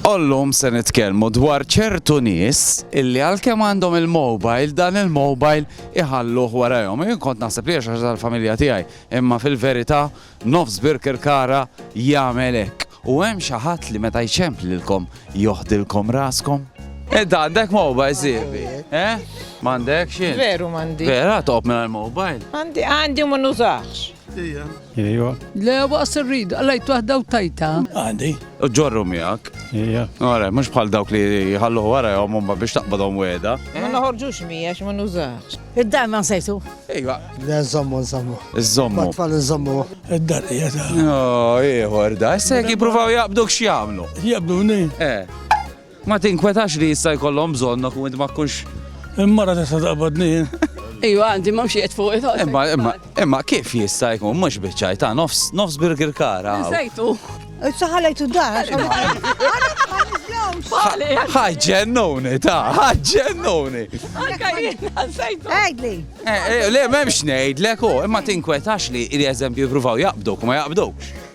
Illum se nitkellmu dwar ċertu nies illi għalkemm għandhom il-mobile, dan il-mobile iħalluh warajhom. Jien kont naħseb li hija xi ħaġa tal-familja tiegħi, imma fil-verità nofs Birkirkara jagħmel hekk. U hemm xi ħadd li meta jċemplilkom joħdilkom raskom? Int għandek mobile sieħbi? Eh? M'għandekx int? Veru m'għandi. Vera toqgħod mingħajr mobile? Għandi għandi u ma nużax. Ija. Ija. Le, waqs irrid, għallajt waħda u tajta. Għandi. Ġorru miegħek. Ija. Għara, mhux bħal dawk li jħallu għara jom umma biex taqbadhom weda. Ma eh? naħorġux miegħek ma nużax. Id-dar ma nsejtu. Ejwa. Le nżommu nżommu. Iżommu. Tfal nżommu. Id-dar hija ta'. No, ieħor da, issa jekk jippruvaw jaqbduk x'jagħmlu. Jaqbduni. Eh. Ma tinkwetax li jista' jkollhom bżonnok u int ma tkunx Il-mara tista' taqbadni jien. Iva, għandi ma mxiet fuq it Imma imma imma kif jista' jkun mhux biċċaj ta' nofs nofs burger kara. Sejtu. Issa ħalejtu d-dar. Ħaġġennuni ta' ħaġġennuni. Anka jien sejtu. Għidli. Eh, eh, le m'hemmx ngħidlek u imma tinkwetax li li eżempju jippruvaw jaqbduk u ma jaqbdukx.